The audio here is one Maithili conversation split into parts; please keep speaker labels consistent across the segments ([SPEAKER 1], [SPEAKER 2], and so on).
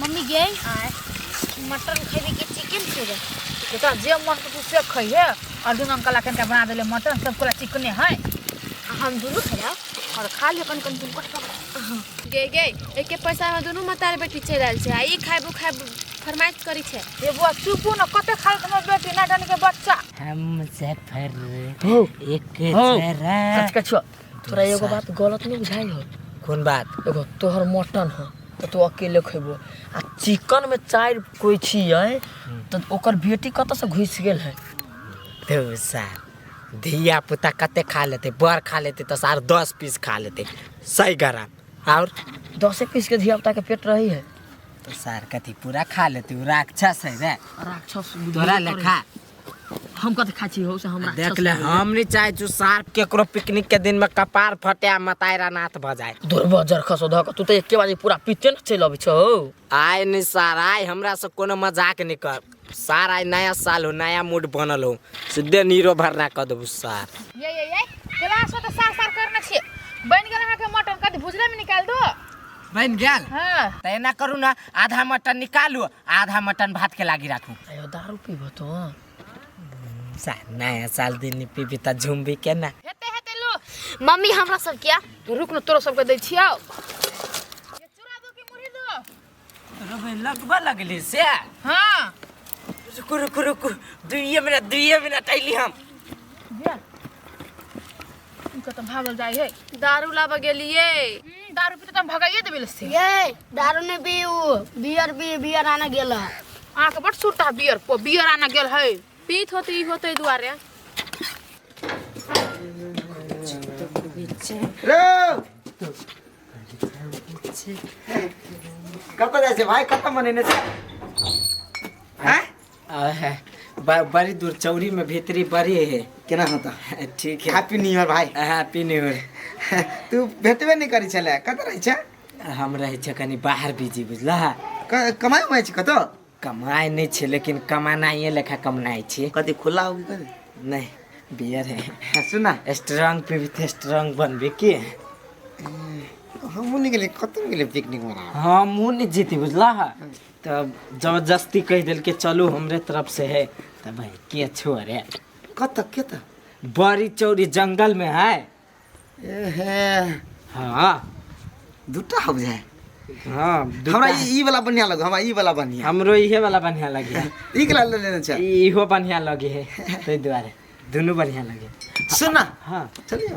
[SPEAKER 1] मम्मी गे आय मटन खेबे कि चिकन खेबे तो तोरा जे मन
[SPEAKER 2] के तू से खइहे और दुनू अंकल अखन के बना देले मटन सब कोला चिकने है आ हम दुनू
[SPEAKER 1] खेला और खा ले कन कन तुमको गे
[SPEAKER 3] गे एके पैसा में दुनू मतार बेटी चल आयल छै आ ई खाइबो खाइब फरमाइश करी छै ये बुआ चुपू न
[SPEAKER 2] कते खाल तुम बेटी ना जाने के बच्चा हम मुजफ्फर
[SPEAKER 4] एक हो। सरा कछ कछो
[SPEAKER 2] तोरा एगो बात गलत नहीं बुझाई हो कौन बात एगो
[SPEAKER 4] तोहर मटन
[SPEAKER 2] हो तो तू अकेले खेबो आ चिकन में चार कोई छी है तो ओकर बेटी कत से घुस गेल है तो
[SPEAKER 4] सार धिया पुता कते खा लेते बड़ खा लेते तो सार दस पीस खा लेते सही गरा और दसे पीस के
[SPEAKER 2] धिया पुता के पेट रही है तो सार
[SPEAKER 4] कथी पूरा खा लेते उ राक्षस है रे राक्षस तोरा
[SPEAKER 2] लेखा
[SPEAKER 4] हम कत
[SPEAKER 2] खाइ छी हो से हमरा देख ले हम नहीं चाहे
[SPEAKER 4] छु सार केकरो पिकनिक के दिन में कपार फटे आ मतायरा नाथ भ जाए दुर्बो जर खसो ध के
[SPEAKER 2] तू त एके बारी पूरा पीते न चल अबै छौ आय नहीं सार
[SPEAKER 4] आय हमरा से कोनो मजाक नहीं कर सार आय नया साल हो नया मूड बनल हो सीधे नीरो भरना क देबू सार ये ये
[SPEAKER 2] ये क्लास में तो सार सार करना छे बन गेल अहाँ के मटन कद भुजला में निकाल दो बन गेल
[SPEAKER 4] हां त एना करू
[SPEAKER 2] ना
[SPEAKER 4] आधा मटन निकालू आधा मटन भात के लागी राखू अयो दारू पीबो तो सा नया साल दिन पीबी त झुमबी के ना हेते हेते लो
[SPEAKER 2] मम्मी हमरा सब
[SPEAKER 1] क्या रुक न तोरो सबके
[SPEAKER 2] दै छियो ये चूड़ा दो कि मुरही दो रबे लगबा
[SPEAKER 4] लगले से हां
[SPEAKER 2] रुकु रुकु
[SPEAKER 4] रुकु दुइये मिनट दुइये मिनट अइली हम
[SPEAKER 2] उनका तो भागल जाए है दारू लाबा गेलिए
[SPEAKER 3] हम्म, दारू पीते तो
[SPEAKER 2] हम भगाइए देबे से ये दारू ने
[SPEAKER 1] भी उ बियर भी बियर आने गेल है। अहाँ के बड़
[SPEAKER 2] सुरता है बियर पो बियर आना गेल है पीत होते ई होते
[SPEAKER 3] दुआरे
[SPEAKER 5] कतऽ जाइ छै भाइ कतऽ मनेने छै
[SPEAKER 4] आहा, ब- बड़ी दूर चौरी में भीतरी बड़ी है केना होता
[SPEAKER 5] ठीक है हैप्पी न्यू
[SPEAKER 4] ईयर भाई हैप्पी
[SPEAKER 5] न्यू ईयर
[SPEAKER 4] तू भेटबे
[SPEAKER 5] नहि करै छलै कतऽ रहै छै हम रहै छै
[SPEAKER 4] कनि बाहर बिजी बुझला क- कमाइ उमाइ
[SPEAKER 5] छै कतऽ कमाइ नहि छै
[SPEAKER 4] लेकिन कमानाइए लेखा कमनाइ छै कथी खुला हो कि
[SPEAKER 5] कथी नहि बियर
[SPEAKER 4] है सुना स्ट्रांग
[SPEAKER 5] पीबी तऽ
[SPEAKER 4] स्ट्रांग बनबी की
[SPEAKER 5] हमहूँ नहि गेलियै कतहु नहि गेलियै पिकनिक मनाबऽ हमहूँ नहि जीती
[SPEAKER 4] बुझला तब जबरदस्ती कहि देलकै चलू हमरे तरफ से है तब भाई के छो अरे कत कत
[SPEAKER 5] बड़ी
[SPEAKER 4] चौड़ी जंगल में है एहे
[SPEAKER 5] हाँ
[SPEAKER 4] दूटा
[SPEAKER 5] हो जाए हाँ
[SPEAKER 4] हमरा दूटा- ई ई
[SPEAKER 5] वाला बढ़िया लगो हमरा ई वाला बढ़िया हमरो इहे वाला बढ़िया
[SPEAKER 4] लगे है ई कला ले लेना
[SPEAKER 5] चाह इहो बढ़िया लगे
[SPEAKER 4] है ताहि दुआरे दुनू बढ़िया लगे सुन ना हाँ
[SPEAKER 5] चलिए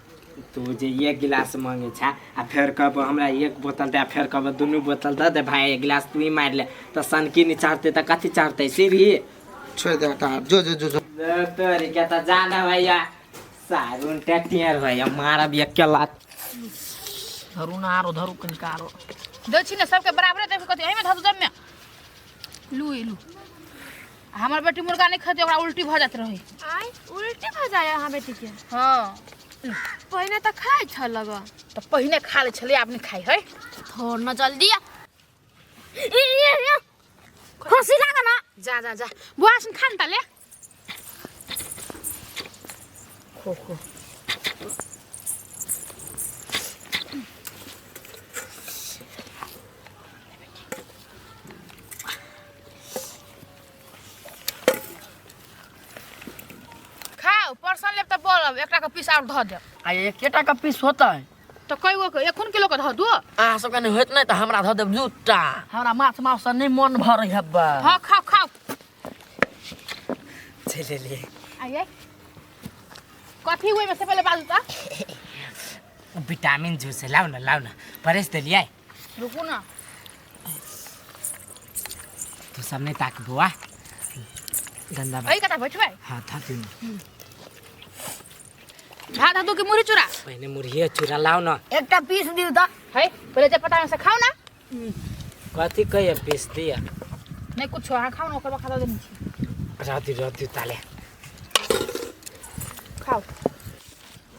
[SPEAKER 5] तू
[SPEAKER 4] जे एक गिलास मांगे छा आ फेर कहब हमरा एक बोतल दे आ फेर कहब दुनू बोतल दे दे भाय एक गिलास तू ही मार ले तो सनकी नहीं चढ़ते तो कथी चढ़ते सीढ़ी छोड़ दे हटा
[SPEAKER 5] हट। जो जो जो जो ले तोरी
[SPEAKER 4] के तो जाना भैया सारून टेटियर भैया मारा भी एक लात
[SPEAKER 2] धरू ना आरो धरू कनिका आरो दक्षिण सबके बराबरे देख कथी एहिमे धरू जब में लू ई लू आ हमर बेटी मुर्गा नहीं खाते ओकरा उल्टी भ जात रहे आय उल्टी भ
[SPEAKER 3] जाय अहाँ बेटी के हां
[SPEAKER 2] पहिने
[SPEAKER 3] त खाइ छ लग तो पहिने खा
[SPEAKER 2] ले छले आब नहीं खाई है थोड़ न जल्दी
[SPEAKER 1] आ। ई, ई, ई। खुशी लाग न जा जा जा बुआ
[SPEAKER 2] सुन खान ताले खो खो खाओ परसन लेब तऽ बोलब एकटा के पीस और धऽ देब आ एकेटा के
[SPEAKER 6] पीस होतै तऽ कई गो के एखन
[SPEAKER 2] किलो के धऽ दू अहाँ सबके नहि होत नहि
[SPEAKER 6] तऽ हमरा धऽ देब दूटा हमरा माछ माउस से नहि मन भरै हब्बा हाँ खाओ खाओ
[SPEAKER 4] चलि एलियै
[SPEAKER 2] आइए कथी हुए में से पहले बाजू तऽ विटामिन
[SPEAKER 4] जूस लाउ न लाउ न परेस देलियै रुकू
[SPEAKER 2] ना
[SPEAKER 4] तू सब नहीं ताक बुआ गंदा बात अई कता बैठबे
[SPEAKER 2] हाँ था तू भात हतो के मुरी चुरा पहले मुर्गिया चुरा
[SPEAKER 4] लाओ ना एकटा पीस दिउ त
[SPEAKER 1] है पहिले जे पता
[SPEAKER 2] से खाओ ना कथी कहिए पीस दिया नहीं कुछ
[SPEAKER 4] अहाँ
[SPEAKER 2] खाओ ना ओकर बाद खाता देनी छी रहती
[SPEAKER 4] रहती ताले
[SPEAKER 2] खाओ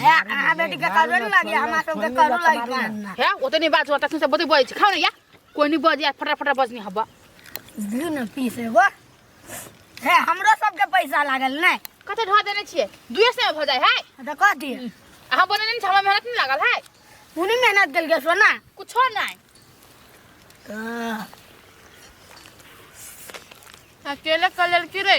[SPEAKER 1] हे अहाँ बेटी के करबे न लागे हमरा सब के करू लागे बा हे ओतनी
[SPEAKER 2] बात होता से बते बज खाओ ना या कोई नहीं बज या फटा फटा बजनी हबा दियो न
[SPEAKER 1] पीस एगो हे हमरो सब के पैसा लागल नै कते ढा देने छिए
[SPEAKER 2] दुए से हो जाए है त कह दे
[SPEAKER 1] अहाँ बने नहीं
[SPEAKER 2] छमा मेहनत नहीं लागल है उनी मेहनत देल
[SPEAKER 1] के सोना कुछो
[SPEAKER 2] नहीं अकेले कलर की रे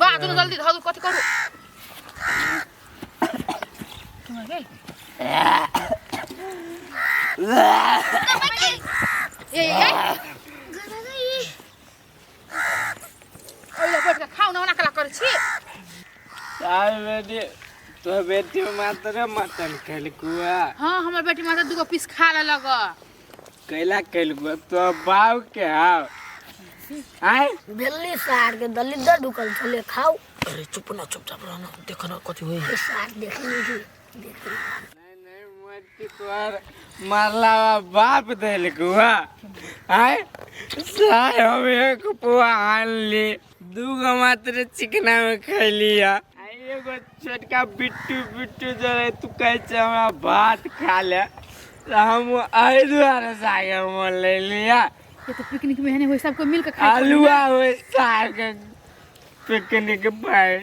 [SPEAKER 2] बाजू न जल्दी धरू कथी करू तुम गेल ए ए ओइला बैठ के खाऊ ना ओना कला करै छी तार
[SPEAKER 4] बेटी तो बेटी मात्र मटन खेलकुआ हां हमर बेटी मात्र
[SPEAKER 2] दूगो पीस खा लेलक कैला
[SPEAKER 4] कैल गो तो बाव के हाव आय दिल्ली
[SPEAKER 1] सार के दलिद्र ढुकल छले खाऊ अरे चुप ना
[SPEAKER 6] चुपचाप रहना देख ना कथी होई ए सार देख लीजिए देख
[SPEAKER 1] लीजिए। नहीं
[SPEAKER 4] नहीं मत के तोहर मारला बाप देल गुआ आय साय हम एक पुआ आन ली दूगो मात्र चिकना में खैली है एगो छोटका बिट्टू बिट्टू जो रहे तू कहे छे हमरा भात खा ले तो हम एहि दुआरे सागे मोल ले लिया ये तो पिकनिक में
[SPEAKER 2] है नहीं हुई सबको मिलकर खाए आलूआ हो
[SPEAKER 4] साग पिकनिक पर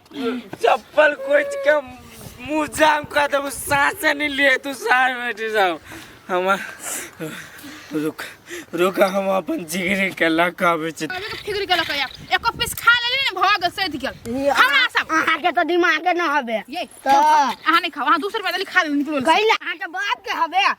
[SPEAKER 2] चप्पल कोच
[SPEAKER 4] के मुंह जाम कर देबो सांस नहीं ले तू सार में बैठ जाओ हम रुक रुक हम अपन जिगरी के लका बेच अरे के फिगर के लकया
[SPEAKER 2] एक पीस खा लेली ने भग सैध गेल हमरा सब अहाँ के तो दिमाग
[SPEAKER 1] न हबे ये तो अहाँ
[SPEAKER 2] नहीं
[SPEAKER 1] खाओ अहाँ
[SPEAKER 2] दूसरे पैदल खा लेली निकलो कहीं अहाँ के बाप के
[SPEAKER 1] हबे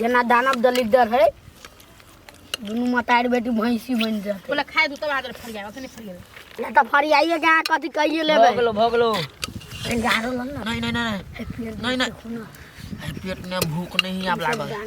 [SPEAKER 1] जेना दानव दलिद्दर है दुनू मतारी बेटी भैंसी बनि जाते बोला खाए दू तब आदर फड़
[SPEAKER 2] जाए ओतने फड़ गेल या तऽ फरियाइए
[SPEAKER 1] के अहाँ कथी कहिए भऽ लेबै गेलो भऽ गेलो
[SPEAKER 6] गारो लग ने नहीं
[SPEAKER 1] नहीं
[SPEAKER 6] नहीं फेर नहीं नहीं अरे
[SPEAKER 1] पेट में
[SPEAKER 6] भूख नहीं आब लागल